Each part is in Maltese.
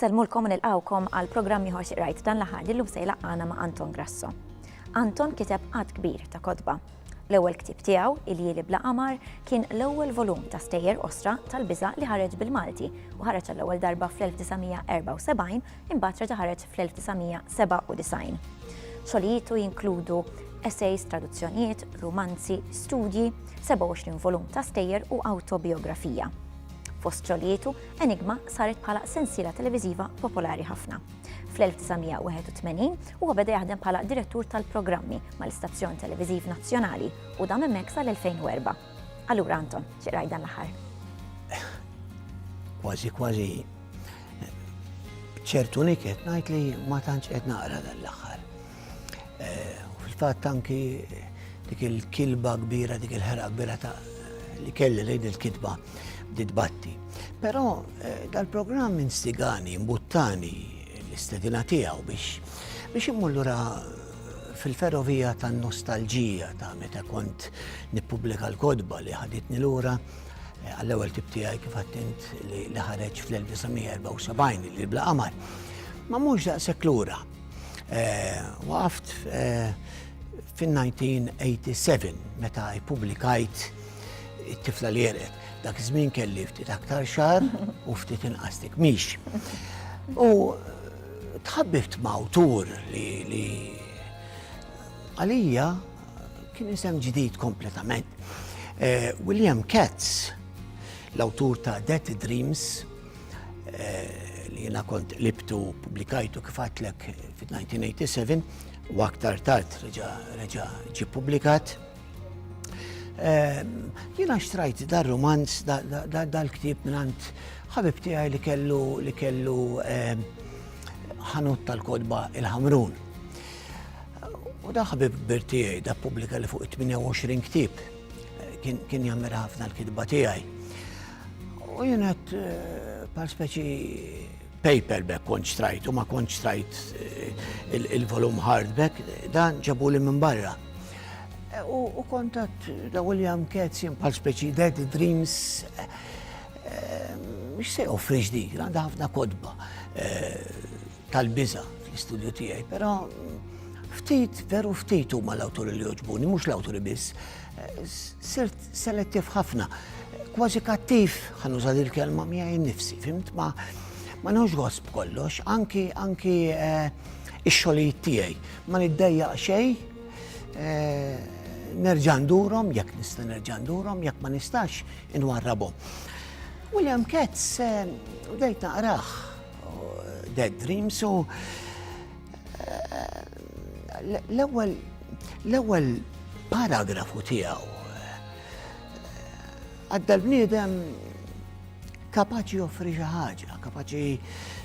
Insellmulkom nilqawkom għal programm ieħor siqrajt dan l-aħħar li llum se jlaqqana ma' Anton Grasso. Anton kiteb qatt kbir ta' kotba. L-ewwel ktieb tiegħu, Il-Jieli bla Qamar, kien l-ewwel volum ta' stejjer osra tal-biża' li ħareġ bil-Malti u ħareġ għall-ewwel darba fl-1974 Imbagħad reġa' ħareġ fl-1997. Xogħlijietu jinkludu essays, traduzzjonijiet, rumanzi, studji, 27 volum ta' stejjer u awtobijografija. Fost xogħlijietu, Enigma saret bħala sensiela televiżiva popolari ħafna. Fl-1981 huwa beda jaħdem bħala direttur tal-programmi mal-istazzjon televiżiv nazzjonali u dam hemmhekk sal-2004. Allura Anton, xi dan l-aħħar? Kważi kważi ċertu niket ngħid li ma tantx qed naqra dan l-aħħar. Eh, fil-fatt anki dik il-kilba kbira, dik il-ħera kbira ta' li kelli lejn il-kitba bdiet batti. Però eh, dal-programm instigani, mbuttani l-istedina tiegħu biex biex immullura fil-ferrovija tan nostalġija ta' meta kont nippubblika l-kodba li ħaditni lura Għall-ewwel tip tiegħi kif għadt int li ħareġ fl-1974 li bla qamar. Ma mhux daqshekk lura. Eh, waqaft eh, fin-1987 meta ippubblikajt it-tifla li jerqet. Dak żmien kelli ftit aktar xar u ftit inqas mhix. U tħabbift ma' awtur li għalija Kien isem ġdid kompletament. Eh, William Katz, l-awtur ta' Dead Dreams, eh, li jena kont libtu publikajtu kifatlek fit-1987, u aktar tard reġa ġi publikat. Eh, jena xtrajt dar romans dal-ktib minant ħabib tiegħi li kellu li kellu ħanut tal-kodba il-ħamrun. U da ħabib birtijaj, da publika li fuq 28 ktib, kien jammira ħafna l-kitba tijaj. U jenet eh, par speċi paperback konċ trajt, u ma konċ trajt eh, il-volum hardback, dan ġabu li minn barra. Eh, u kontat da William Ketz jen par speċi Dead Dreams, mux se offri ġdid, għanda ħafna kodba. tal-biża fl-istudju tiegħi, però ftit, veru ftit huma l-awturi li joġbuni, mhux l-awturi biss. Sirt selettiv ħafna, kważi kattiv, ħanuża il kelma miegħi nifsi, fimt ma ma nħux għosb kollox, anki anki eh, ix-xogħlijiet tiegħi. Ma niddejja xejn, eh, nerġa' ndurhom, jekk nista' nerġa' ndurhom, jekk ma nistax inwarrabhom. William Katz, eh, bdejt naqrah Dead Dreams u l-ewwel l-ewwel paragrafu tiegħu għadda l-bniedem kapaċi joffri xi ħaġa, kapaċi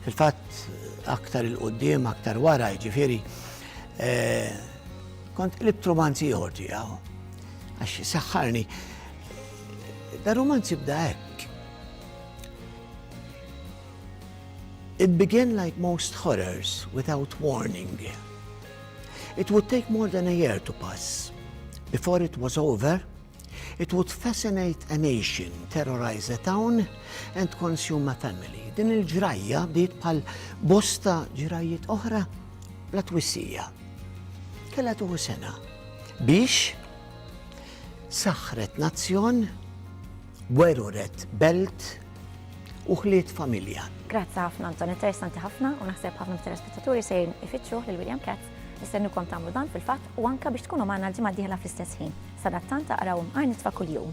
fil-fatt aktar il-qoddim, aktar wara, ġifieri eh, kont qlibt romanzi ieħor tiegħu għax saħħarni. Da romanzi bda hekk. It began like most horrors, without warning. It would take more than a year to pass. Before it was over, it would fascinate a nation, terrorize a town and consume a family. Din il-ġrajja bdiet bħal bosta ġrajjiet oħra bla twissija. Kella tuħu sena biex saħħret nazzjon Weru red belt u ħliet familja. Grazzi ħafna Anton, interessanti ħafna u naħseb ħafna mit-telespettaturi se ifittxu lil William Katz. Nistennukom tagħmlu dan fil-fatt u anka biex tkunu magħna l-ġimgħa d-dieħla fl-istess ħin. Sadattant taqraw imqar nitfa' kuljum.